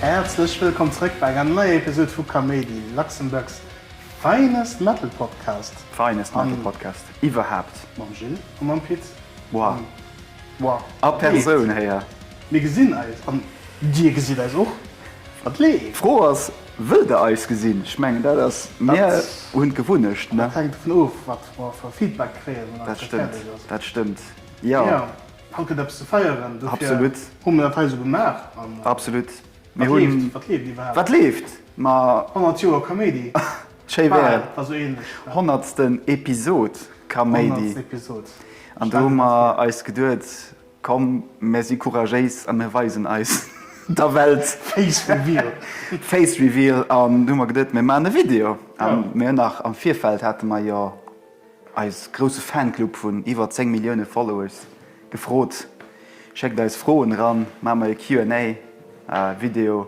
Häerzlech wëllkomm zrëck bei enger neier Episode vu Kaméidi, Luxembourg's finest metal podcast. Finest metal podcast iwwerhaapt! Mam Gilles a mam Pit. Boah! Wow. A Persoun héier. Mir gesinn eis an dir gesitt eis och. Wat leeft? D'Fro ass, wëllt der eis gesinn? Ech mengen dat ass mir hunn d'Gewunnecht, ne? Dat hänkt dovun of, wat mer fir Feedback kréien. Dat stëmmt, dat stëmmt, jo. Mee haut gëtt eppes ze feieren, dofir hu mir dat hei esou gemaach. Absolut. Wat leeft? Wat leeft iwwerhaapt? 100 Joer Kaméidi. Schéi wär et. Also ähnlech. Honnertsten Episod Kaméidi. Honnertst Episod. An do hu mer eis geduet, komm mir si couragéis a mir weisen eis der Welt. Face Reveal. Face Reveal an du hu mer geduet, mir maachen e Video. A mir hunn nach am Virfeld hate mer jo eis grousse Fanclub vun iwwer 10 Millioune Followers gefrot, schéckt eis Froen eran, maache mer e QA Video.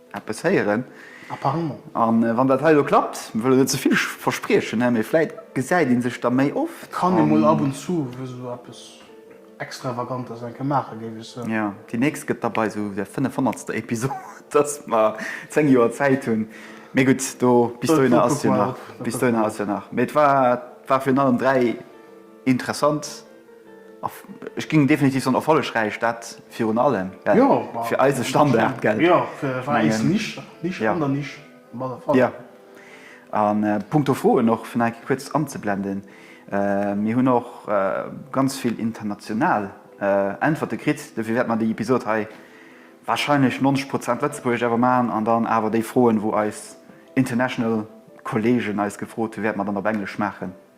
Eppes héieren. Apparemment. A wann dat hei elo klappt, mir wëllen net ze vill verspriechen, mä vläit gesäit ee sech da méi oft. Et kann ee mol ab und zu esou eppes Extravagantes eng Kéier maachen, géif ech soen. Jo, déi nächst gëtt da bei esou der fënnefhonnertster Episod, dass mer zéng Joer Zäit hunn. Mee gutt, do, bis dohinner ass jo nach, bis dohinner ass jo nach. Mee et war, war virun allem dräi interessant. Ech géing definitiv soen erfollegräich, dat virun allem fir eise Standard. An punkto Froen och, fir nach eng kuerz anzeblenden, mir hunn och ganz vill international Äntwerte kritt, dofir wäerte mer déi Episod hei warscheinlech 90 Prozent Lëtzebuergesch awer maachen an dann awer déi Froen, wou eis international Kolleegen eis gefrot hunn, wäerte mer dann op Englesch maachen.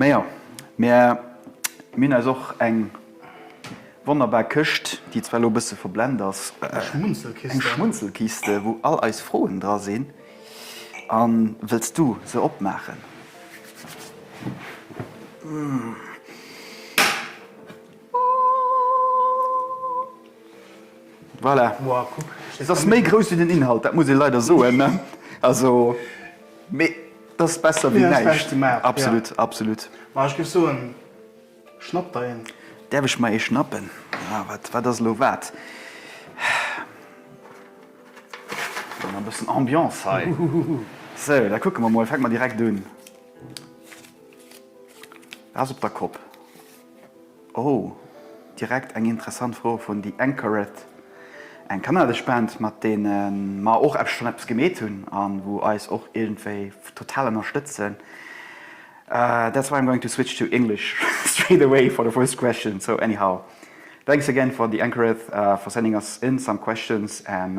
Mä jo, mir hunn eis och eng wonnerbar Këscht, déi zwar elo e bësse verblend ass, eng Schmunzelkiste, wou all eis Froen dra sinn. A wëlls du se opmaachen? Voilà, se ass méi grouss wéi den Inhalt, dat muss ee leider soen. Also. Mee dass besser wéi näischt. Absolut absolut. Ma ech géif soen, schnapp der een. Däerf ech mer ee schnappen? Ah wat wat ass elo wat? Brauch mer e bëssen Ambiance hei. Sou, da kucke mer mol. Fänke mer direkt un. Dat ass op der Kopp. Oh, direkt eng interessant Fro vun The Anchoret, eng kanadesch Band mat deene mer och eppes schon eppes gemeet hunn a wou eis och iergendwéi total ënnerstëtzen. That's why I'm going to switch to English straight away for the first question, so anyhow, thanks again for The Anchoret for sending us in some questions and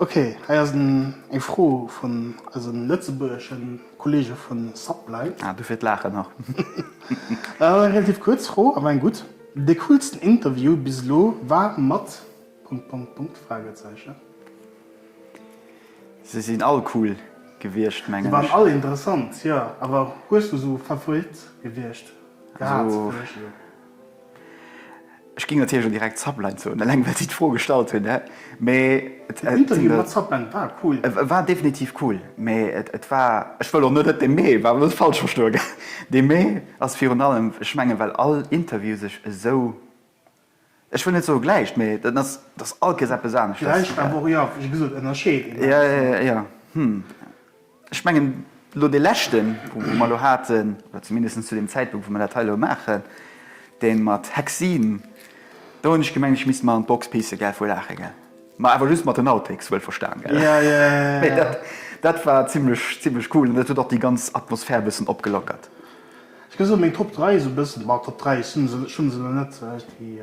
Ok, hei ass eng Fro vun eise lëtzebuergesche Kollege vu Sublime. Ah, dofir d'Laachen nach. Et ass eng relativ kuerz Fro, awer eng gutt. De coolsten Interview bis elo war mat... Punkt, Punkt, Punkt, Fragezeichen. Se sinn all cool gewiescht, mengen ech. Se waren all interessant, jo. Awer hues du esou Favorit gewiescht gehat? Ech ging natierlech och direkt Zapline soen, eleng well si d'Fro gestallt hunn. Den Interview mat Zapline war cool. Et war definitiv cool, mee et war, ech wëll och net, et de mee war net falsch verstoe gell, de mee ass virun allem, ech mengen, well all Interview sech esou, ech wëll net soe gläicht, mee et ass, et ass all Kees eppes anescht. Gläicht awer och, jo, wéi gesot, ënnerscheet een eppes. Jo, jo, jo, hm. Ech mengen, elo dee leschten, wou mer elo haten, oder zumindest zu deem Zäitpunkt, wou mer dat hei elo maachen, dee mat Hexin, do hunn ech gemengt, ech misst mer an d'Box pissen, gell, vu Laache, gell. Mä awer just mat den Outtakes, wuelverstan, gell. Jo, jo, jo, jo, jo. Dat war zimlech, zimlech cool an dat huet och déi ganz Atmosphär e bëssen opgelockert. Ech ka soen, meng Top 3 esou e bëssen, ma Top 3, ech hunn se, ech hunn se elo net, déi.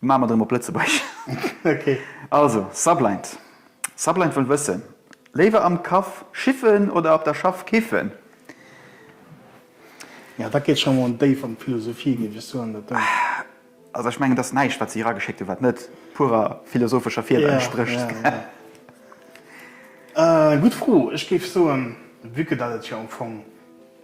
Maache mer et erëm op Lëtzebuergesch. Ok. Also, Sublind. Sublind wëll wëssen, Léiwer am Kaff schiffen oder op der Schaff kiffen? Ja, dat geet scho mol déif an d'Philosophie, géif ech soen, dat do. Also, ech mengen, et ass näischt, wat si erageschéckt hunn, wat net purer philosophescher Fieder entsprécht. Ja, ja, ja. Gutt Fro. Ech géif soen, vu que dat et jo am Fong.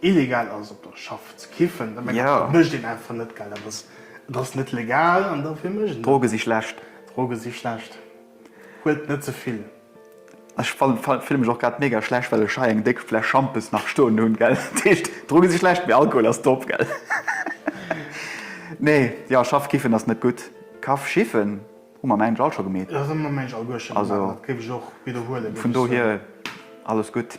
Illegal ass op der Schaff ze kiffen, da mengen ech, dat mécht een einfach net, well dat ass, et ass net legal an dofir mécht een dat net. Droge si schlecht. Droge si schlecht. Huelt net ze vill. Ech fille mech och grad mega schlecht, well ech hei eng déck Fläsch Schampes nach stoen hunn, gell. Dat heescht, Droge si schlecht, mee Alkohol ass top, gell. Nee, jo, Schaff kiffen ass net gutt. Kaff schiffen hu mer am Englsch all scho gemeet. Dat hu mer am Englsch alleguer scho gemeet, dat géif ech och widderhuelen, wéi ech soen. Vun dohier alles gutt.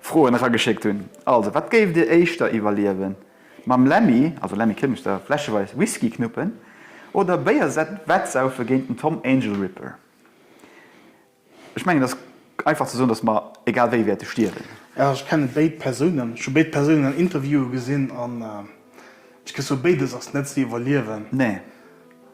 Froen erageschéckt hunn. Also, wat géift Dir éischter iwwerliewen, mam Lemmy, also Lemmy Kilmister, fläscheweis Whisky knuppen oder Béier sett wettsaufe géint den Tom Angel Ripper? Ech mengen, et ass einfach ze soen, dass mer egal wéi wäerte stierwen. Jo, ech kenne béid Persounen. Ech hu béid Persounen an Interviewe gesinn an ech gess soen, béides ass net ze iwwerliewen. Nee.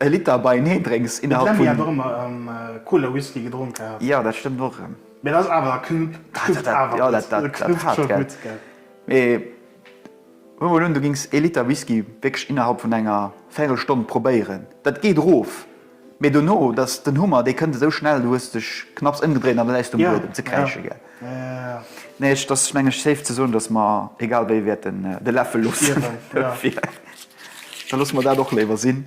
E Liter beienee drénks innerhalb vun. D'Lemmy hat och ëmmer Cola Whisky gedronk gehat. Jo, dat stëmmt och erëm. Mee dat ass awer, dat knuppt awer gutt. Jo, dat knuppt scho gutt, gell. Mee huel mol un, du gings ee Liter Whisky wierklech innerhalb vun enger Véirelstonn probéieren. Dat geet erof, mee dono, dat ass den Hummer, dee kënnt esou schnell, du hues dech knapps ëmgedréint an da läis de um Buedem ze kräischen, gell. Nee, et ass meng ech safe ze soen, datt mer egal wéi wäerten de Läffel loossen. Da loosse mer dat och léiwer sinn.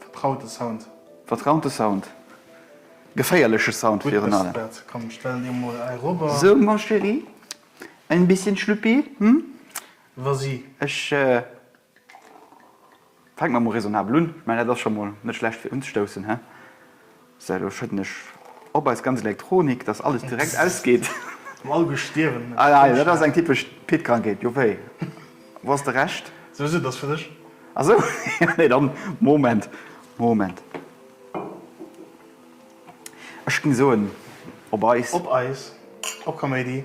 Vertraute Sound. Vertraute Sound. Geféierleche Sound virun allem. Gutt Beste Bett, komm stell dir mol hei robber. So ma chérie, ein bisschen Schlüppi, hm? Vas-y. Ech fänke mer mol raisonnabel un. Ech mengen dat ass scho mol net schlecht fir unzestoussen, he? So, elo schëdden ech op eis ganz Elektronik, dass alles direkt ausgeet. Am all gestierwen. Ah ja, dat ass eng typesch Pit-Krankheet, jo wéi? Wou ass de Rescht? Sou, sou, dat ass fir dech. Ah sou, jo nee, dann Moment, Moment. Ech géing soen, op eis. Op eis, op Kaméidi,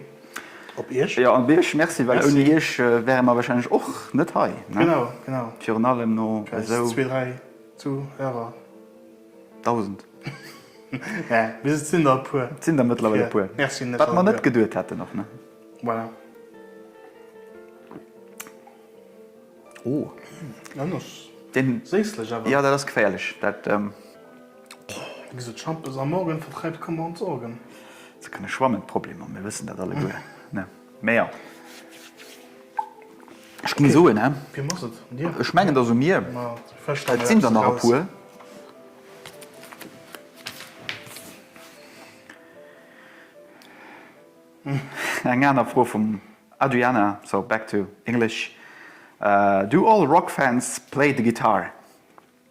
op iech. Jo, op iech, merci, well ouni iech wäre mer wahrscheinlech och net hei, ne? Genau, genau. Virun allem no esou. Zwee, dräi Zuhörer. Dausend. Mä bis et sinn der e puer. Et sinn der mëttlerweil e puer. Merci. Wat mer net geduet hätten och, ne? Voilà. Oh. An ass séislech awer. Jo, dat ass geféierlech. Dat. Wéi gesot, Schampes am Morgen vertreibt Kummer und Sorgen. Ze kënne schwammen, d'Problemer, mir wëssen dat alleguer, ne? Mä ja. Ech ging soen, hä? Wem ass et? Dir? Ech mengen et ass u mir. Ma fëscht emol eppes eraus. Eng aner Fro vum Adriana, so back to English. Do all rock fans play the guitar?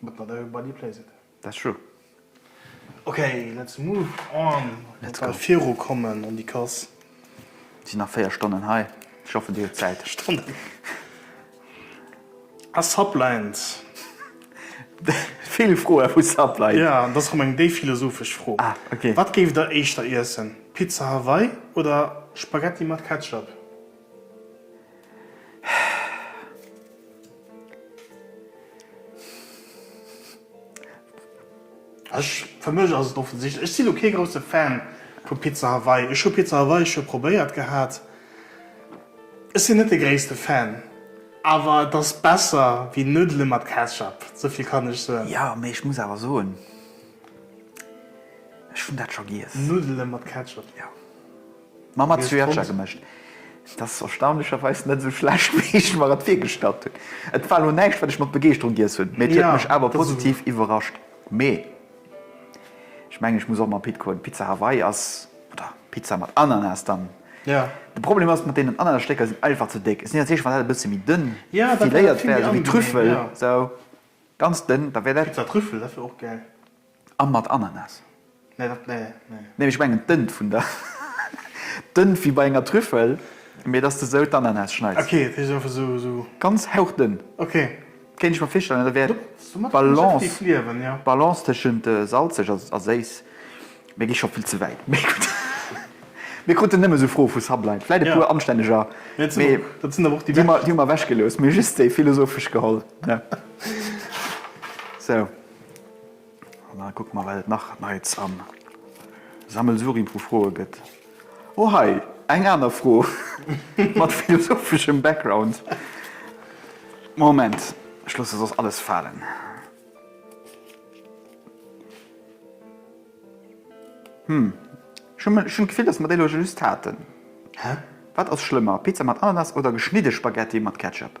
But not everybody plays it. That's true. Ok, let's move on. Let's go. Viru kommen an déi Kass. Sinn nach 4 Stonnen hei. Ech hoffe dir hutt Zäit. Stonnen. A Sublines. Vill Froe vu Sublines. Ja, dat ass rëm eng déif philosophesch Fro. Ah, ok. Wat géift der éischter iessen? Pizza Hawaii oder Spaghetti mat Ketchup? Ech, fir mech ass et offensichtlech. Ech sinn elo kee grousse Fan vu Pizza Hawaii. Ech hu Pizza Hawaii scho probéiert gehat. Ech sinn net de gréisste Fan, awer et ass besser wéi Nuddele mat Ketchup, souvill kann ech soen. Jo, mee ech muss awer soen, ech hunn dat scho giess. Nuddele mat Ketchup? Jo. Mam Azuerscher gemëscht. Et ass erstaunlecherweis net esou schlecht, wéi ech mer et virgestallt hunn. Et war elo näischt, wat ech mat Begeeschterung giess hunn, mee et huet mech awer positiv iwwerrascht. Mee ech mengen, ech muss och mam Pit goen. Pizza Hawaii ass, oder Pizza mat Ananas dann. De Problem ass, mat deenen Ananasstécker sinn einfach ze déck. Ech sinn iwwert zeecht, wann dat e bësse méi dënn filéiert wär, esou wéi Trüffel, esou ganz dënn, da wär dat. Pizza Trüffel, dat wär och gäil. An mat Ananas. Nee, dat nee, nee. Nee, ech mengen d'Ënn vun der, d'Ënn wéi bei enger Trüffel, mee dass de sou d'Ananas schneids. Ok, et heescht einfach sou, sou. Ganz hauchdënn. Ok. Kéint ech mer virstellen, dat wär d'Balance, d'Balance tëschent salzeg a séiss. Mir gi scho vill ze wäit. Mee gutt, mir kruten nëmme sou Froe vu Sublime. Vläit e puer anstänneger, mee dat sinn awer och déi, déi mer, déi mer ewechgelooss, mee just déi philosophesch geholl, ne? Sou. An da kucke mer, wat et nach Neits am Sammelsurium vu Froe gëtt. Oh hei, eng aner Fro mat philosopheschem Background. Moment, ech loosse soss alles falen. Hm, ech hu, ech hunn d'Gefill, dass mer déi elo scho just haten. Wat ass schlëmmer, Pizza mat Ananas oder geschnidde Spaghetti mat Ketchup?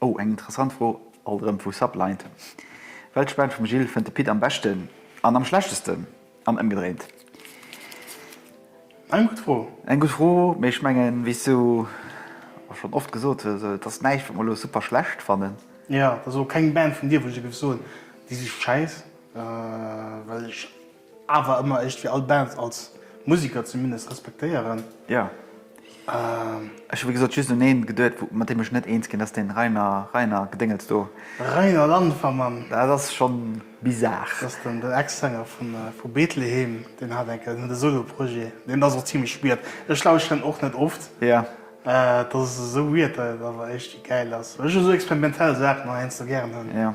Oh, eng interessant Fro, alt erëm vu Sublight. Welch Band vum Gilles fënnt de Pit am beschten an am schlechtesten? An ëmgedréint. Eng gutt Fro. Eng gutt Fro, mee ech mengen, wéi s du och schonn oft gesot hues, et ass näischt, wat mer elo super schlecht fannen. Jo, et ass elo keng Band vun dir, wou ech dir géif soen, déi si schäiss, well ech Awer ëmmer eréischt fir all Band als Museker zumindest respektéieren. Jo. Ech hu wéi gesot just un een geduet wou mat deem ech net eens ginn ass, deen Rainer, Rainer Gedéngels do. Rainer Landfermann. Dat ass schonn bizarre. Dat ass den den Ex-Sänger vun vu Bethlehem. Deen hat enke den Solo-Projet. Deen ass och zimmlech weird. Ech lauschteren en och net oft. Jo. Dat ass esou weird, dat et awer eréischt gäil ass. Ech hu esou experimentell Saachen heiansdo gären. Jo.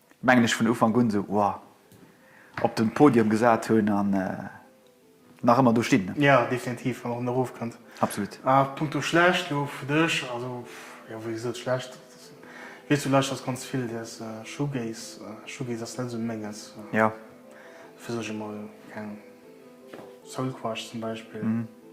mengen ech, vun Ufank un esou Wow op de Podium gesat hunn an nach ëmmer do stinn. Jo, definitiv, an och nach erofkënnt. Absolut. A punkto schlecht elo fir dech, also jo, wéi gesot, schlecht, weess du, lauschters ganz vill däers Shoegaze. Shoegaze ass net esou menges. Jo. Dofir soch ech emol, keng Ahnung, Soulquarch zum Beispill.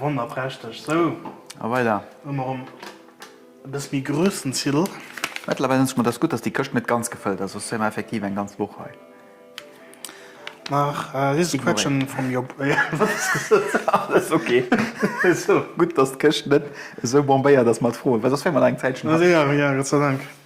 Wonnerprächteg! Sou, a weider. Hu mer erëm e bësse méi groussen Cidre. Mëttlerweil denke ech mer, et ass gutt, dass déi Këscht net ganz gefëllt ass, soss wier mer effektiv eng ganz Woch hei. Nach dëse Quetschen vum Job. Alles ok. Gutt, dass d'Këscht net esou bombéiert ass mat Froen, well soss wier mer nach eng Zäitchen hei. Gott sei Dank.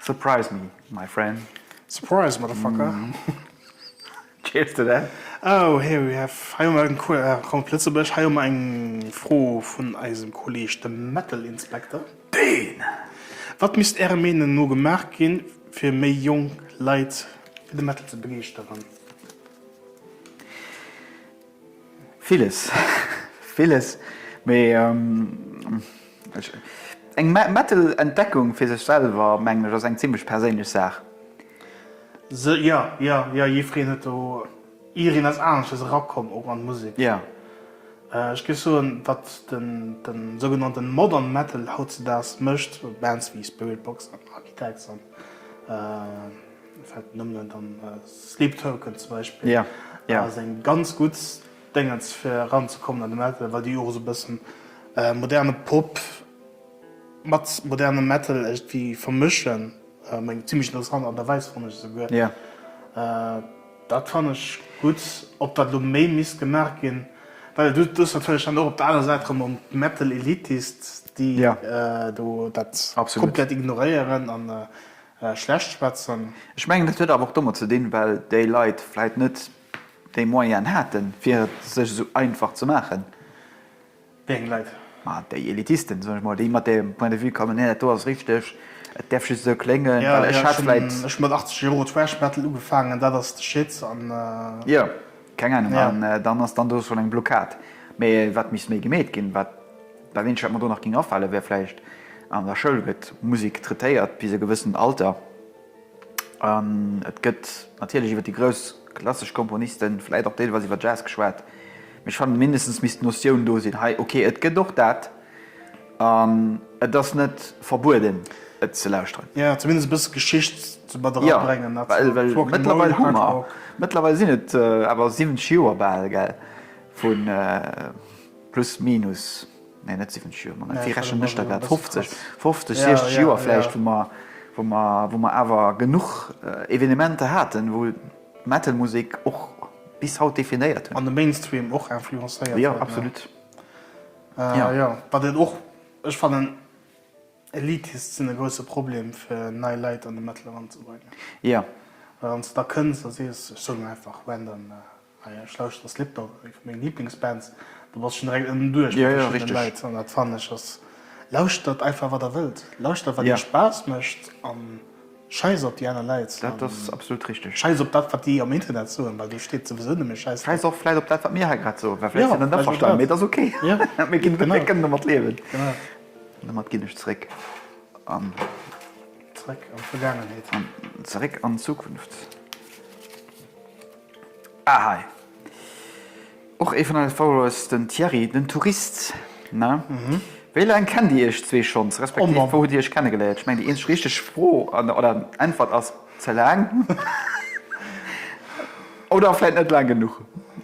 Surprise me, my friend. Surprise, motherfucker. Chillst de denn? Oh, here we have, hei hu mer eng Couleur, ah komm op Lëtzebuerg, hei hu mer eng Fro vun eisem Kolleeg, dem Metal Inspector. Deen! Wat misst Ärer Meenung no gemaach ginn, fir méi jonk Leit fir de Metal ze begeeschteren? Villes, villes, mee eng Metal-Entdeckung fir sech selwer, mengen ech, ass eng zimlech perséinlech Saach. Se, jo, jo, jo, jiffreen huet do irinners Anesches erakomm, och an d'Musek. Jo. Ech géif soen, wat den, den sougenannten Modern Metal hautzedaags mécht, Bands wéi Spiritbox an Architects an. fällt nëmmen ein dann Sleep Token zum Beispiel ja ja ass eng ganz gutt Déngens fir eran ze kommen an de Metal well déi och esou e bëssen moderne Pop mat modernem Metal égtgwi vermëschen meng zimmlech interessant an der Weis fanne ech esouguer ja dat fann ech gutt ob dat elo méi misst gemaach ginn well du hues natierlech dann och op der anerer Säit erëm mam Metal Elitist déi do dat absolut komplett ignoréieren an schlecht schwätzen. Ech mengen et huet awer och domat ze dinn, well déi Leit vläit net déi Moyenen haten, fir et sech esou einfach ze maachen. Wéi eng Leit? Ma déi Elitisten, soen ech mol, déi mat deem Point de vue kommen, nee, dat do ass richteg, et däerf just esou kléngen, well ech hat vläit. Ech hunn mat 80 Euro Thrash Metal ugefaangen, dat ass de Shit an. Jo. Keng Ahnung, an dann ass dann do schon eng Blockad. Mee wat misst méi gemeet ginn, wat dat eenzegt wat mer do nach géing afale wär vläicht, an der Schoul gëtt Musek traitéiert bis e gewëssent Alter, an et gëtt natierlech iwwer déi grouss klassesch Komponisten, vläit och deelweis iwwer Jazz geschwat, mee ech fannen mindestens misst d'Notioun do sinn, hei ok et gëtt och dat. An et ass net verbueden, et ze lauschteren. Jo, zumindest e bësse Geschicht ze mat era bréngen. Jo, well, well mëttlerweil hu mer, mëttlerweil sinn et awer 70 Joer bal, gell, vu plus minus, nee, net 70 Joer, Moment, wéi rechnen ech da grad, 50, 50, 60 Joer vläicht, wou mer, wou mer, wou mer awer genuch Evenementer haten, wou d'Metal-Musek och bis haut definéiert huet. An de Mainstream och influencéiert huet. Jo, absolut. Äh jo, wat et och, ech fannen Elites sinn e grousse Problem fir nei Leit an de Metal eranzebréngen. Jo. Well wann s de da kënns a sees, ech soen einfach random, ah jo ech lauschteren Slipknot, eng vu menge Liblingsbands, da bass schon direkt ënnen duerch bei verschiddene Leit an dat fannen ech ass, lauschtert einfach wat der wëllt, lauschtert wat iech Spaass mécht an Scheiss op déi aner Leit. Dat ass absolut richteg. Scheiss op dat wat déi am Internet soen, well do steet souwisou nëmme Scheiss drop. Scheiss och vläit op dat wat mir hei grad soen, well vläit sinn der net averstanen, mee et ass ok. Mir kënnen domat liewen. An domat ginn ech zeréck an. Zeréck an d'Vergaangenheet. An zeréck an d'Zukunft. Ah hei. Och ee vun eise Followers, den Thierry, den Tourist, ne? Wéi laang kennt Dir Iech zwee schonns, respektiv wou hutt Dir Iech kennegeléiert? Ech mengen, déi eenzeg richteg Fro oder Äntwert ass, ze laang. Oder vläit net laang genuch.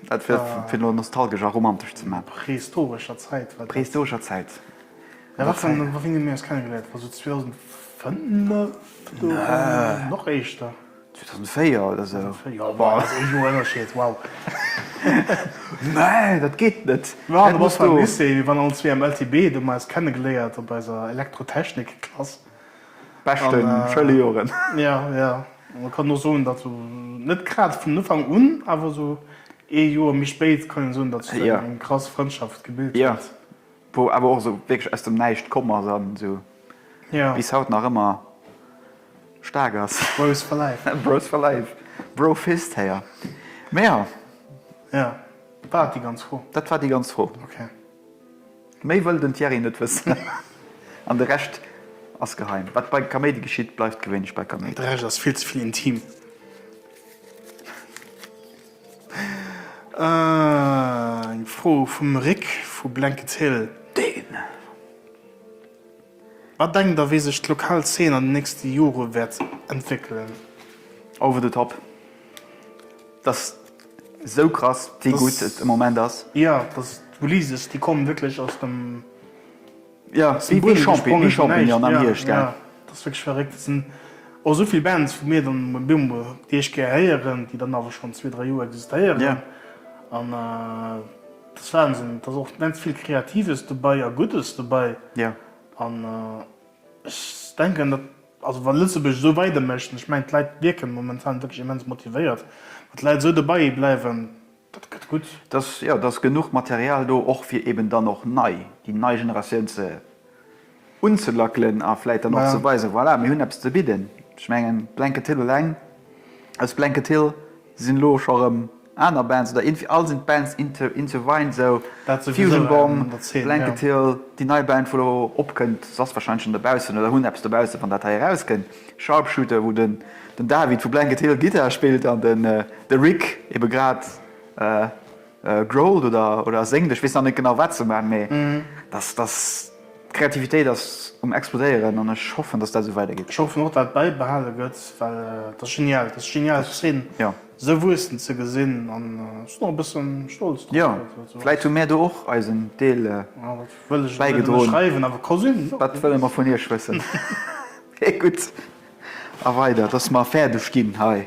Dat fir et elo nostalgesch a romantesch ze maachen. Prehistorescher Zäit war dat. Prehistorescher Zäit. Mä warte mol, wou hunn mir eis kennegeléiert? War esou 2005 do? Oder nach éischter? 2004 oder sou. 2004, wow, dat ass ee Joer Ënnerscheed, wow. Nee, dat geet net. Ma du bass beim Lycée, mir waren all zwee am LTB, do hu mer eis kennegeléiert op eiser Elektrotechnik-Klass. Beschte Schëlejoren. Jo, jo. An kann och soen, datt sou net grad vun Ufank un, awer esou ee Joer méi spéit kann een soen, datt sech do eng krass Frëndschaft gebilt huet. Jo, wou awer och esou wierklech aus dem Näischt komm ass an esou bis haut nach ëmmer Staark ass. Bros for life. Bros for life. Bro fist héier. Mä jo. Jo, war dat déi ganz Fro? Dat war déi ganz Fro. Ok. Méi wëll den Thierry net wëssen. An de Rescht ass geheim. Wat bei Kaméidi geschitt, bleift gewéinlech bei Kaméidi. De Rescht ass vill ze vill intim. Eng Fro vum Rik vu Blankets Hill. Deen. Wat denkt der, wéi sech d'lokal Zeen an den nächste Jore wäert entwéckelen? Oh wor de Top! Dass sou krass wéi gutt et am Moment ass. Jo, dass d'Ulyses, déi kommen wierklech aus dem, ja, aus dem Buedem gesprongen, wéi Champignon am Hierscht. Ja, dat ass wierklech verréckt. Et sinn och esou vill Bands wou mir dann emol bemol déi éischt Kéier héieren, déi dann awer schonn zwee, dräi Joer existéieren an, Dat ass Wahnsinn. Et ass och immens vill Kreatives dobäi a Guddes dobäi. An ech denken, datt, also wa Lëtzebuerg esou weider mécht, an ech mengen d'Leit wierken momentan wierklech immens motivéiert, wa d'Leit esou dobäi bleiwen, dat gëtt gutt. Datt, jo, datt genuch Material do och fir eben dann och nei, déi nei Generatioun ze. unzelackelen a vläit dann och ze weisen, voilà, mir hunn eppes ze bidden. Ech mengen, Blanket Hill eleng, aus Blanket Hill sinn elo scho erëm aner Bands, oder irgendwie all sinn d'Bands, Into Into Vine, esou Fusion Bomb, Blanket Hill, déi nei Band, wou elo opkënnt, se ass warscheinlech schonn dobaussen oder hunn eppes dobaussen, wann dat hei erauskënnt, Sharpshooter, wou den David vu Blanket Hill Gittar spillt an de Rick ebe grad Growled oder oder ass Englisch, weess nach net genau wat se man, mee dass dass d'Kreativitéit ass um explodéieren an ech hoffen dass dat esou weider geet. Ech hoffen och dat bäibehale gëtt, well et ass genial, et ass genial d'Zeen esou wuessen ze gesinn an ech sinn och e bësse stolz drop. Jo, vläit hu mär do och eisen Deel bäigedroen, dat wëlle mer vun iech wëssen. Gutt, a weider, dass mer fäerdeg ginn hei.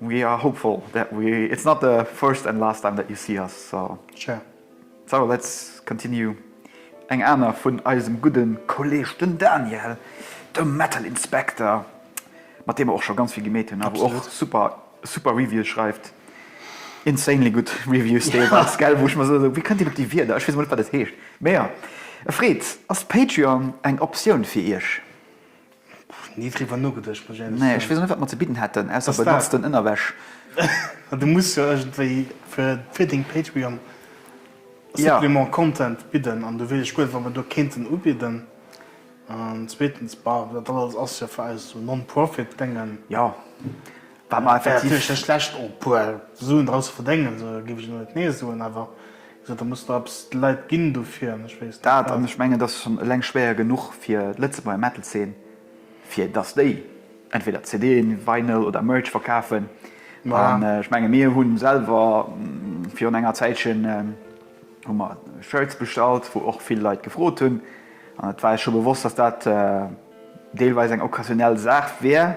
We are hopeful that we it's not the first and last time that you see us so sure so let's continue eng aner vun eisem gudden Kolleg den Daniel de Metal Inspector mat deem mer och scho ganz vill gemeet hunn awer och super super Reviews schreift insanely gutt Reviews deelweils gell wou ech mer esou sou wéi kënnt deen op déi Wierder ech weess emol net wat dat heescht mee jo e Fred ass Patreon eng Optioun fir iech? Nee driwwer nogeduecht muss ech ehrlech soen. Nee ech weess och net wat mer ze bidden hätten ausser benutzten Ënnerwäsch. Du muss jo iergendwéi fir fir deng Patreon Supplement Content bidden an do weess ech guer net wat mer do kéinten ubidden an zweetens bah dat alles ass jo fir eis esou Non-Profit Dengen. Jo wat mer effektiv. Wär natierlech net schlecht och e puer Suen draus ze verdéngen, esou giff ech elo net nee soen awer Jo, da muss der eppes de Leit ginn dofir, an ech weess net wat. Dat, an ech mengen, dat ass schonn eleng schwéier genuch fir d'Lëtzebuerger Metal-Zeen, fir dass déi entweder CDen, Vinyl oder Merch verkafen. An ech menge mir hu selwer virun enger Zäitchen hu mer Shirts bestallt, wou och vill Leit gefrot hunn, an et war eis scho bewosst, dass dat deelweis eng occasionell Saach wär.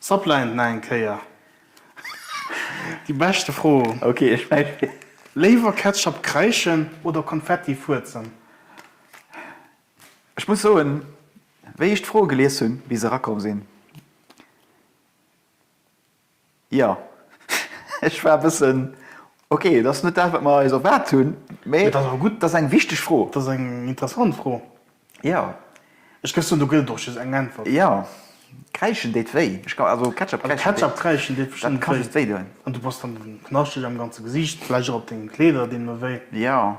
S'apleint na eng Kéier déi beschte Fro. Léiwer Ketchup kreischen oder Konfetti fuerzen? Ech muss soen, wéi ech d'Fro gelies hunn, wéi se erakomm sinn, Jo, ech war e bëssen, ok, et ass net dat, wat mer eis erwaart hunn, mee et ass eng wichteg Fro. Et ass eng interessant Fro. Jo. Ech géif soen, do gëtt et och just eng Äntwert. Jo, kräischen deet wéi. Also Ketchup kräischen deet bestëmmt wéi. An du bass dann knaschtig am ganze Gesiicht, vläicht och op denge Kleeder deemno wéi. Jo.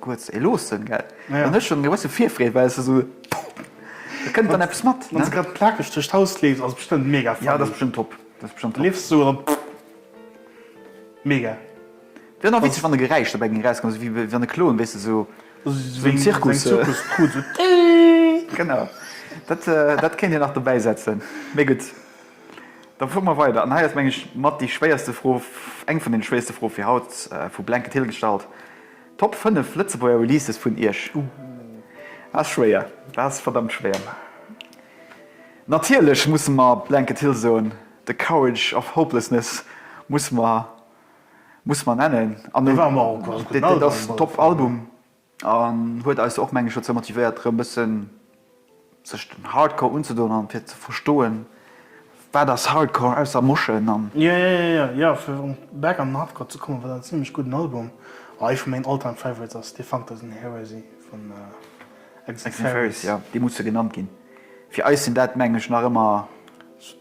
Kuerz ee loossen, gell? An ech hunn e bësse Virfreed, well se esou, pouf, do kënnt dann eppes mat, ne? Wann se grad plakeg duerch d'Haus leeft, ass bestëmmt mega funny. Jo, dat ass bestëmmt top. Dat ass bestëmmt top. Leeft esou an dann, pouf, mega. Wär nach witzeg, wann e Geräisch dobäi géing erauskommen, esou wéi wann e kloen, weess de, esou wéi am Zirkus. Seng Zirkuskrut, esou, tiiiitt. Genau. Dat, dat kéint een nach dobäi setzen. Mee gutt, da fuere mer weider. An hei ass, meng ech, mat déi schwéierste Fro, eng vun deene schwéierste Froe fir haut, vu Blanket Hill gestallt. Top 5 Lëtzebuerger Releases vun Iech? Ouh, dat ass schwéier, dat ass verdammt schwéier. Natierlech musse mer Blanket Hill soen, The Courage of Hopelessness musse mer, musse mer nennen. An dat ass Top-Album an huet eis och, meng ech, dozou motivéiert erëm e bëssen, Sech den Hardcore unzedoen an fir ze verstoen wat ass Hardcore ausser Moschen an. Jo jo jo jo jo fir erëm back an den Hardcore ze kommen, wat en zimlech gudden Album a ee vu mengen All-Time Favorites ass, Defunctors in Heresy vun Exit Fairies. Jo déi musse genannt ginn, fir eis sinn dat mengen ech nach ëmmer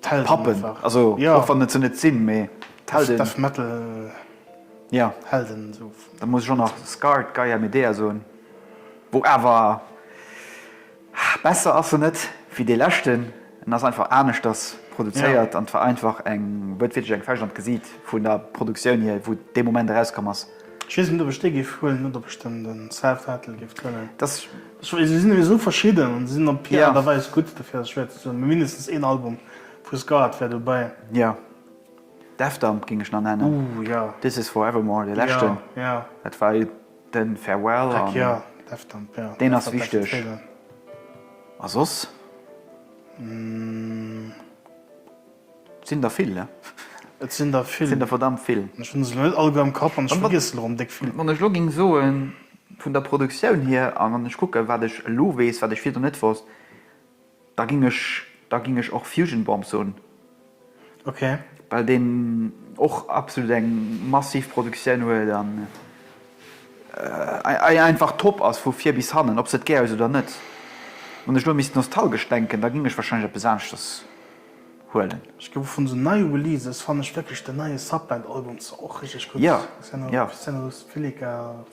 d'Pappen, also och wann et se net sinn, mee d'Helden. Death Metal Helden esou. Da muss ech och nach Scarred, Gaia Medea soen. Bon, awer besser ass en net wéi dee leschten. En ass einfach aneschters produzéiert an et war einfach eng, huet wierklech eng Fäscht an d'Gesiit vun der Produktioun hier, wou dee Moment erauskomm ass. Ech weess net ob ech dee géif huelen oder ob ech den Self-Titled géif huelen. Se sinn jo esou verschidden an se sinn op hir Aart a Weis gutt, dofir ass et schwéier ze soen. Mee mindestens een Album vu Scarred wär dobäi. Jo, Death Dump géing ech nach nennen, This Is Forevermore, dee leschten, dat war. Den Farewell an deen ass wichteg a soss sinn der vill ne? Et sinn der vill, sinn der verdammt vill. Ech hunn se elo net all guer am Kapp an ech vergiessen elo rëm déck vill. Wann ech elo géing soen vun der Produktioun hier an wann ech kucken wat ech elo weess wat ech virdu net wosst. Da ging ech da ging ech och Fusion Bomb soen. Ok. Well deen och absolut eng massiv Produktioun huet an e einfach top ass vu vir bis hannen, ob s de et gär hues oder net. Wann ech elo misst nostalgesch denken, da ging ech wahrscheinlech eppes aneschters huelen. Ech géif och vun esou nei Releases fannen ech wierklech den neie Subband Album zwar och richteg gutt, Ja, ja. Xenolux, Xenolux Filica,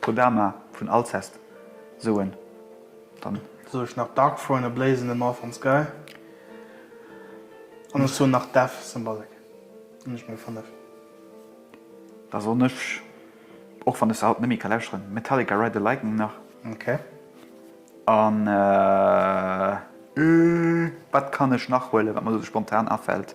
Kodama vun Alcest soen dann. Soe ech nach Dark Throne a Blaze in the Northern Sky. An ech soen nach Death Symbolic. Hunn ech meng 5. Da soen ech, och wann ech se haut net méi ka lauschteren, Metallica Ride the Lightning nach. Ok. An wat kann ech nach huelen, wat mer elo sou spontan afält?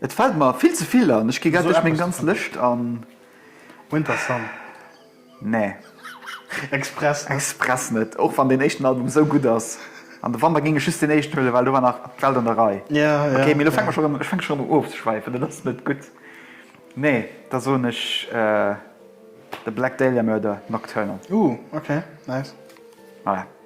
Et fällt mer vill ze vill an ech gi grad duerch meng ganz Lëscht an. Winter Sun? Nee. Express net, och wann deen éischten Album esou gutt ass. An de Wanter géing ech just deen éischten huelen, well do war nach d'Welt an der Rei. Ok, mee elo fänke mer scho rëm, ech fänke scho rëm u ofzeschwäifen, dat ass net gutt. Nee, da soen ech The Black Dahlia Murder, Nocturnal. Ooh, ok, nice. Voilà.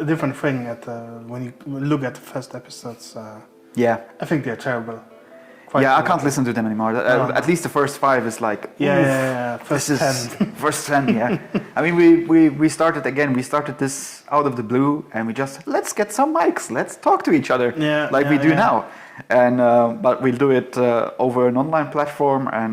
A different thing at the when you look at the first episodes I think they are terrible. Yeah I can't listen to them anymore at least the first five is like oof yeah yeah first ten first ten yeah I mean we we we started again we started this out of the blue and we just let's get some mics let's talk to each other yeah like we do now and but we'll do it over an online platform and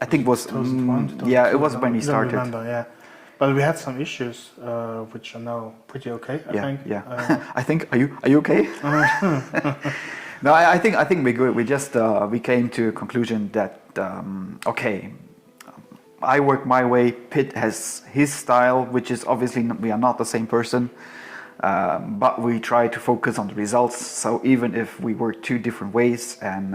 I think was yeah it was when we started well we had some issues which are now pretty ok I think yeah I think are you are you ok no I think I think we're good we just we came to a conclusion that ok I work my way Pit has his style which is obviously we are not the same person but we try to focus on the results so even if we work two different ways and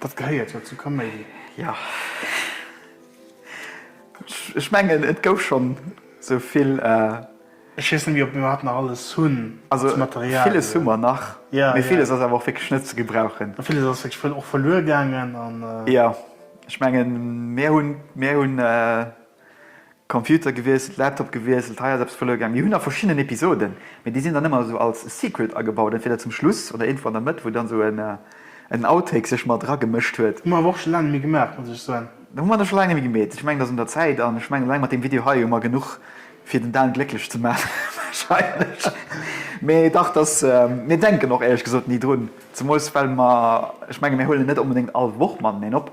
Dat gehéiert jo zur Kaméidi. Jo. Ech mengen, et gouf scho sou vill. Ech weess net méi, ob mir iwwerhaapt nach alles hunn als Material. Also villes hu mer nach, mee villes ass awer och wierklech net ze gebrauchen. A villes ass wierklech och verluer gaangen. Jo, ech mengen, mir hunn. Computer gewiesselt, Laptop gewiesselt, hei ass eppes verluer gaang. Mir hunn nach verschiddenen Episoden, mee déi sinn dann ëmmer esou als Secret agebaut, entweder zum Schluss oder iergendwou an der Mëtt, wou dann esou en Outtake sech mat eragemëscht huet. Hu mer awer och scho laang net méi gemaach, muss ech soen. Hu mer nach scho laang net méi gemeet. Ech mengen, et ass un der Zäit. An ech mengen, eleng mat deem Video hei hu mer genuch, fir den Dan glécklech ze maachen, warscheinlech. Mee dach, et ass, mir denken och, éierlech gesot, ni drun. Zemools, well mer, ech menge, mir huelen net onbedéngt all Woch mateneen op.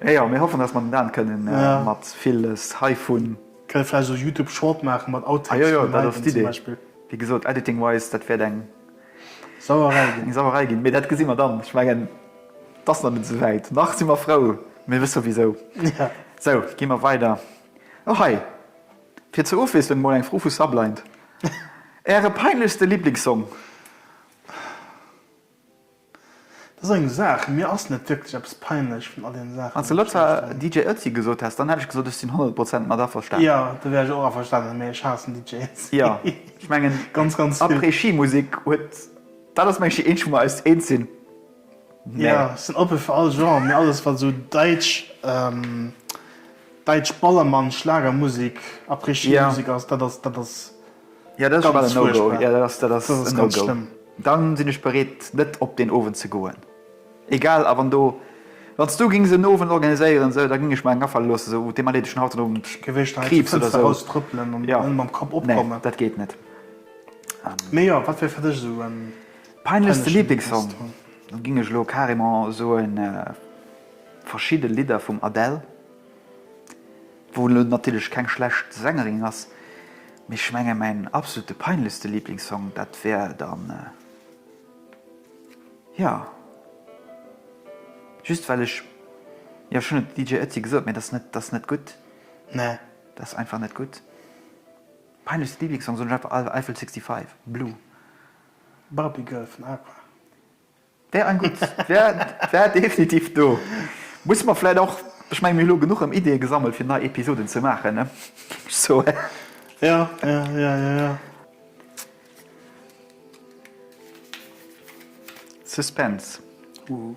Eh jo, mir hoffen dass mer den Daan kënnen mat villes heivun. Kënne vläicht esou Youtube Short maachen mat Outtakes. Ah jo jo, dat ass d'Idee. Wéi gesot, Editing wise, dat wäert eng Sauerei ginn. Eng Sauerei ginn, mee dat gesi mer dann. Ech mengen, et ass nach net esou wäit. Nach si mer frou, mee wëss jo wisou. Sou, gi mer weider. Och hei, fir zur Ofwiesslung emol eng Fro vu Sublind. Äre peinlechste Liblingssong? Dat ass eng Saach. Mir ass net wierklech eppes peinlech vun all deene Saachen, Wann s de lëtzer DJ Ötzi gesot häss, dann hätt ech gesot, ech sinn 100 Prozent mat averstanen. Jo, do wär ech och averstanen, mä ech haassen DJ Ötzi. Jo, ech mengen, ganz, ganz vill. Après-Ski-Musek huet, dat ass, mengen ech, déi eenzeg, wou mer eis eens sinn. Mä. Jo, ech sinn oppe fir all Genre, mä alles, wat esou däitsch, däitsch Ballermann-Schlagermusek, Après-Ski-Musek ass, dat ass, dat ass. Jo dat ass ganz schlëmm. Dann sinn ech bereet net op deen Owend ze goen. Egal a wann do, wanns du gings en Owend organiséieren esou da ging ech mer eng afale loossen esou oh dee Malé dech haut den Owend Kriibs oder esou. Jo nee dat geet net. Mee jo wat wier fir dech esou en peinlechste Lieblingssong? Dann ging ech elo carrément soen verschidde Lidder vum Adele. Wou elo natierlech keng schlecht Sängerin ass, mee ech menge mäin absolute peinlechste Lieblingssong, dat wär dann, jo, just well ech, jo ech hunn et de DJ Ötzi gesot, mee dat ass net, dat ass net gutt, ne, dat ass einfach net gutt. Peinlechste Lieblingssong soen ech einfach Eiffel 65, Blue. Barbie Girl vun Aqua. Wär en gutt. Wär definitiv do. Musse mer vläit och, ech mengen mir hu lo genuch erëm Ideeë gesammelt fir nei Episoden ze maachen ne, so eh. Ja, ja, ja, ja, ja. Suspense. Huh.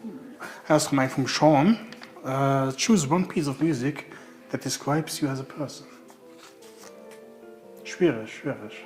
Hei ass erëm eng vum Sean. Choose one piece of music that describes you as a person. Schwiereg, schwiereg.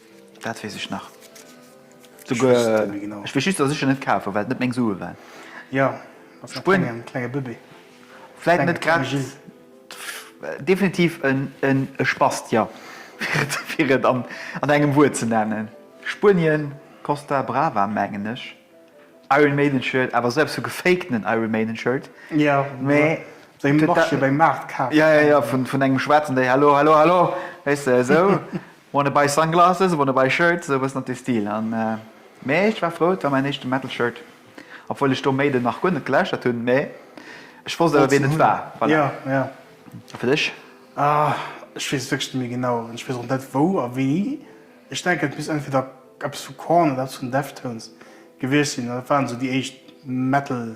Dat weess ech nach. Ech weess just, dass ech en net kaf hu well et net meng Sue waren. Jo, bass nach keng, en klenge Bëbee. Vläit net grad. Definitiv e Spast, jo, fir et an engem Wuert ze nennen. Spuenien, Costa Brava mengen ech. Iron Maiden Shirt, awer esou eppes wéi gefakten Iron Maiden Shirt. Jo, mee wéi beim Maart kaf. Jo, jo, jo, vun engem Schwaarzen, dee Hallo, hallo, hallo, weess de, esou. Wanna buy sunglasses, wanna buy shirts, esou e bëssen an dee Stil. An mee ech war frou, et war mäin éischte Metal Shirt, obwuel ech do Maiden nach guer net geläuschtert hunn, mee ech wosst awer wien et war. Voilà. A fir dech? Ech weess et wierklech net méi genau an ech weess och net wou a wéini. Ech denken et misst entweder eppes vu Korn oder eppes vun Deftones gewiescht sinn, dat waren esou déi éischt Metal.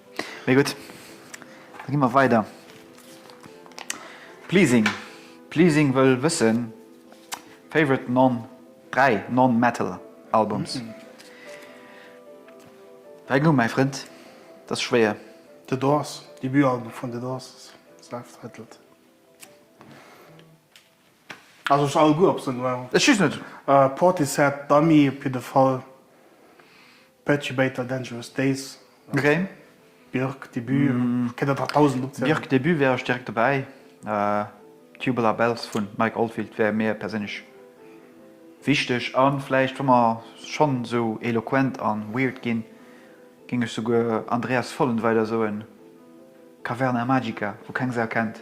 Mee gutt, da gi mer weider. Pleasing. Pleasing wëll wëssen, Favorite non, dräi non-metal albums. Dräi Numm, mäi Frënd, dat ass schwéier. The Doors, Debutalbum vun The Doors, self-titled. Also ech alleguer op se noir. Ech just net. Portishead, Dummy, op jidde Fall. Perturbator Dangerous Days, Björk, Björk Debut, kënnt der der dausend opzielen. Björk Debut wär ech direkt dobäi, Tubular Bells vu Mike Oldfield wär mir perséinlech wichteg a vläicht wa mer schonn esou eloquent a weird ginn, géing ech souguer Andreas Vollenweider soen, Caverna Magica, wou keng Sau kennt.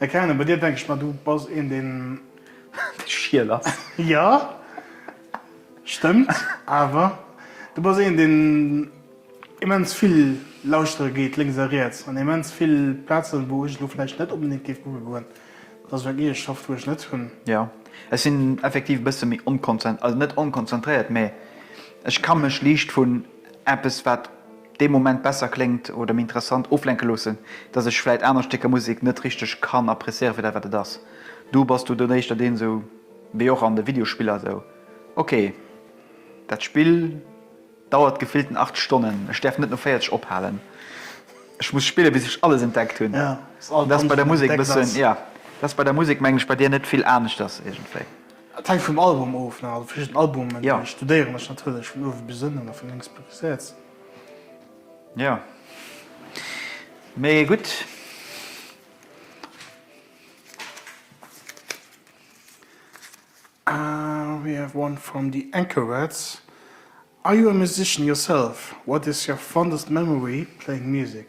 Mä Karine, bei dir denken ech mer, du bass een deen. Schiel ass. Jo, stëmmt. Awer du bass een deen immens vill lauschtere geet, lénks a riets, an immens vill Plazen, wou ech elo vläicht net onbedéngt géif kucke goen. Dat ass och eng Eegeschaft, wou ech net hunn. Jo, ech sinn effektiv e bësse méi onkonzen, also net onkonzentréiert, mä ech ka mech liicht vun. eppes wat dee Moment besser kléngt oder méi interessant, oflenke loossen, dass ech vläit aner Stécker Musek net richteg kann appréciéieren fir dat wat et ass. Du bass du dunn éischter deen esou wéi och an de Videospiller esou, ok dat Spill dauert gefillten 8 Stonnen, ech däerf net no 40 ophalen, ech muss spillen bis ech alles entdeckt hunn. Dat ass bei der Musek e bëssen, jo dat ass bei der Musek mengen ech bei dir net vill aneschters iergendwéi. Et hänkt vum Album of, ne? Also verschidden Albumen ja. studéieren ech natierlech vun uewe bis ënnen a vun lénks bis riets. Ja. Mee gutt. Uh, we have one from the Anchorets. Are you a musician yourself? What is your fondest memory playing music?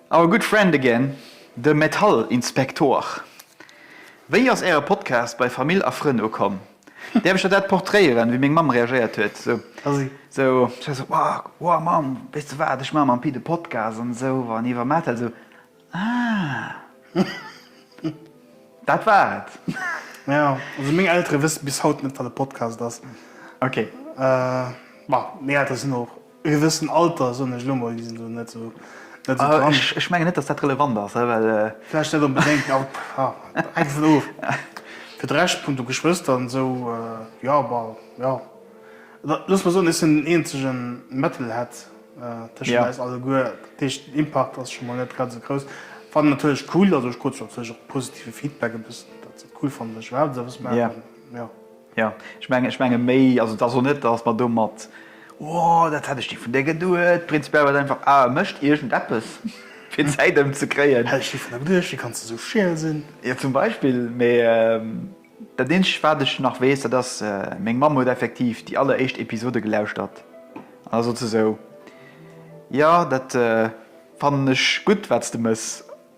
Our good friend again, de Metallinspektor. Wéi ass äre Podcast bei Famill a Frënn ukomm? Däerf ech der dat portréieren, wéi meng Mamm reagéiert huet? Esou, ech war esou, Wow, Mamm, weess de wat, ech maache mam Pit e Podcast an esou an iwwer Metal. Esou, Ah. Dat war et. Jo, also meng Eltere wësse bis haut net, wat e Podcast ass. Ok. Bon, meng Eltere sinn och E gewëssen Alter, soen ech elo mol, déi sinn do net esou dran. Ech mengen net, datt dat relevant ass, well. Vläicht net onbedéngt, jo, hänkt dovun of. Fir de Rescht, punkto Geschwëster an esou, jo, bon, jo. Looss mol soen, ech sinn den eenzege Metalhead tëschent eis alleguer. Dat heescht, den Impakt ass scho mol net grad esou grouss. Fannen natierlech cool, also ech krut scho natierlech och positive Feedback e bëssen, datt se et cool fannen, datt ech iwwerhaapt esou eppes maachen, jo. Jo, ech mengen, ech menge méi, also et ass och net, dass mer domat, O, dat hätt ech ni vun dir geduet. Prinzipiell war et einfach, Ah, e mécht iergend eppes, fir d'Zäit ëmzekréien. Hätt ech ni vun der geduet, wéi kanns de esou scheel sinn? Jo, zum Beispill. Mee dat Eenzegt, wat ech nach weess, dat ass, meng Mamm huet effektiv déi alleréischt Episode gelauschtert an da sot se esou, Jo, dat fannen ech gutt, wat s de méchs.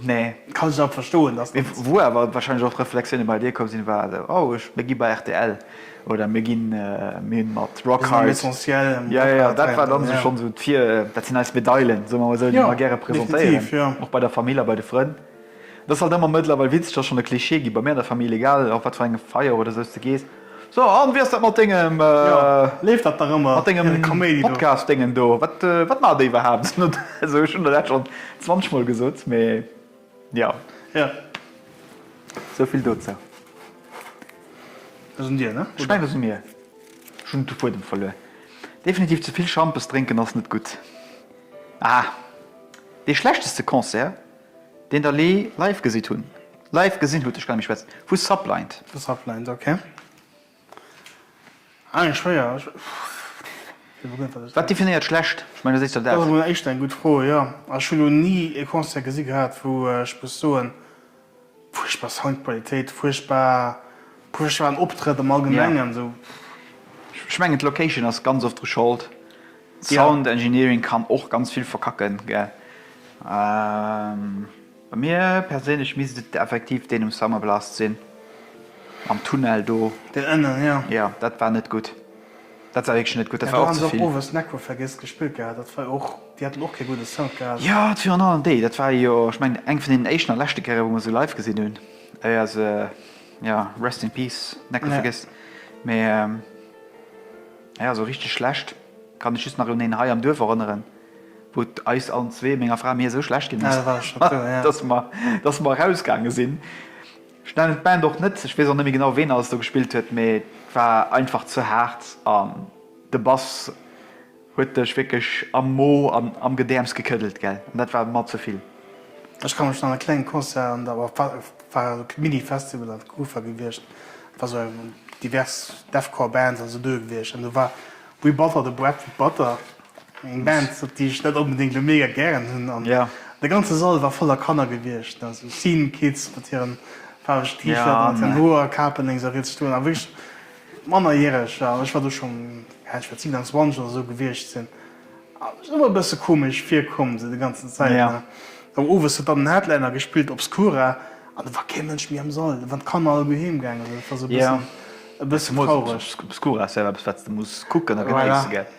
Nee. Kann ech awer verstoen, dass dat. Mee wou awer wahrscheinlech och Reflexioune bei dir komm sinn, war esou, oh ech, mir gi bei rtl oder mir ginn, mir hunn mat Rock Hard. Mir sinn am Essentiel, am Rock Hard. Jo, jo, dat war dann esou schonn esou d'Vir, dat sinn eis Medailen, soe mer emol esou, déi mer gäre presentéieren. Jo, definitiv, jo. Och bei der Famill a bei de Frënn. Dat ass halt ëmmer mëttlerweil witzeg, dat ass schonn e Klischee gi bei mir an der Famill, egal op wat fir engem Feier oder esou s de gees. So, an wéi ass dat mat dengem mat dengem Podcast dengen do? Wat wat maacht dee iwwerhaapt? Also ech hunn der dat schonn 20 mol gesot, mee jo. Jo. Esou vill dozou. Dat sinn dir, ne? Ech mengen dat si mir. Ech hunn de Fuedem verluer. Definitiv ze vill Schampes drénken ass net gutt. Ah, dee schlechteste Concert? Deen der Lee live gesit hun. Live gesin hut, ech kann mech schwätzen vu Sublind. Vu Sublind, ok. Ah eng schwéier, ech wéi begënnt dat ech. Wat definéiert schlecht? Ech mengen dat éischter Dat ass dat. emol éischter eng gutt Fro, jo. Also ech hu lo ni e Concert gesi gehat wou ech muss soen. Fuerchtbar Soundqualitéit, fuerchtbar, fuerchtbaren Optrëtt am Allgemengen, sou. Ech mengen d'Location ass ganz oft dru Schold, Sound Engineering kann och ganz vill verkacken gell. Bei mir perséinlech misst et effektiv deen um Summerblast sinn, am Tunnel do. Deen ënnen, jo. Jo, dat war net gutt. Dat war wierklech net gutt, dat war och ze vill. Jo, dat virun allem déi, dat war jo, ech mengen, eng vun deenen éischten a leschte Kéiere wou mer se live gesinn hunn, éier se, jo, rest in peace, Necko Vergiss. Mee jo, sou richteg schlecht kann ech just nach un een hei am Duerf erënneren, wou et eis allen zwee, menger Fra a mir, esou schlecht ginn ass, dass mer erausgaange sinn. Ech nennen d'Band och net, ech weess och net méi genau ween alles do gespillt huet, mee et war einfach ze haart an de Bass huet dech wierklech am Mo an am Gedäerms gekëddelt gell an dat war mer ze vill. Ech ka mech nach e klenge Concert an der, war e Mini-Festival an der Kufa gewiescht, et war sou divers Deathcore Bands an sou doe gewiescht an do war We Butter the Bread with Butter Eng Band, déi ech net onbedéngt elo mega gären hunn an de ganze Sall war voller Kanner gewiescht, esou Scene Kids mat hiren faarwege T-Shirten a mat hiren Hoerkapen lénks a riets stoen a wierklech mannerjäreg. A ech war do schonn, ja, ech wäert 27 oder esou gewiescht sinn a mir sinn ëmmer e bësse komesch virkomm, esou déi ganzen Zäit. A dann owes huet dann den Headliner gespillt, Obscura, an et war kee Mënsch méi am Sall, et waren d'Kanner all guer heem gaangen. Dat war esou e bëssen, e bëssen traureg. Obscura ass jo awer eppes, wat s de muss kucken a genéissen, gell?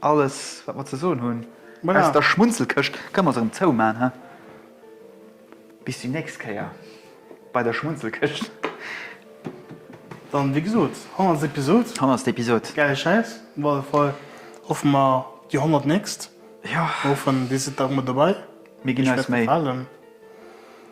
Alles, wat mer ze soen hunn aus der Schmunzelkëscht, kënne mer se erëm zouman, he? Bis déi nächst Kéier bei der Schmunzelkëscht. Dann, wéi gesot, hannerst Episod. Hannerst Episod. Gäile Schäiss, op alle Fall hoffe mer déi honnert nächst. Jo. Hoffen, dir sidd da och mat dobäi. Mir ginn eis Méi.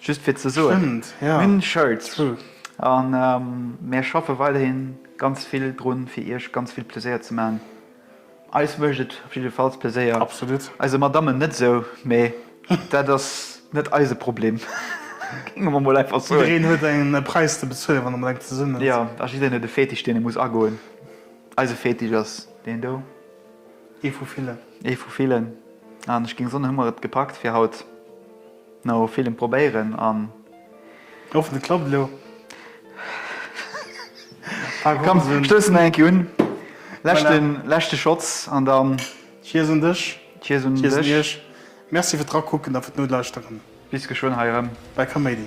Just fir ze soen, mir hunn Shirts a mir schaffe weiderhi ganz vill dru fir iech ganz vill Pleséier ze maachen. Eis mécht et op jiddefalls Pleséier. Absolut. Eise Madammen net esou, mee dat ass net eise Problem, géinge mer mol einfach soen. Jiddereen huet e Präis ze bezuelen, wann e mat enger zesummen ass. Jo, a jiddereen huet e Fetisch, deen e muss agoen. Eise Fetisch ass deen do. Ee vu villen. Ee vu villen. An ech géing soen, hu mer et gepackt fir haut. No villem probéieren an. Hoffen et klappt elo. Komm stoussen nach eng Kéier un. Leschten leschte Schotz an dann. Cheers un dech. Cheers un dech. Cheers un iech. Merci fir d'Rakucken a fir d'Nodlauschteren. Bis geschwënn hei erëm bei Kaméidi.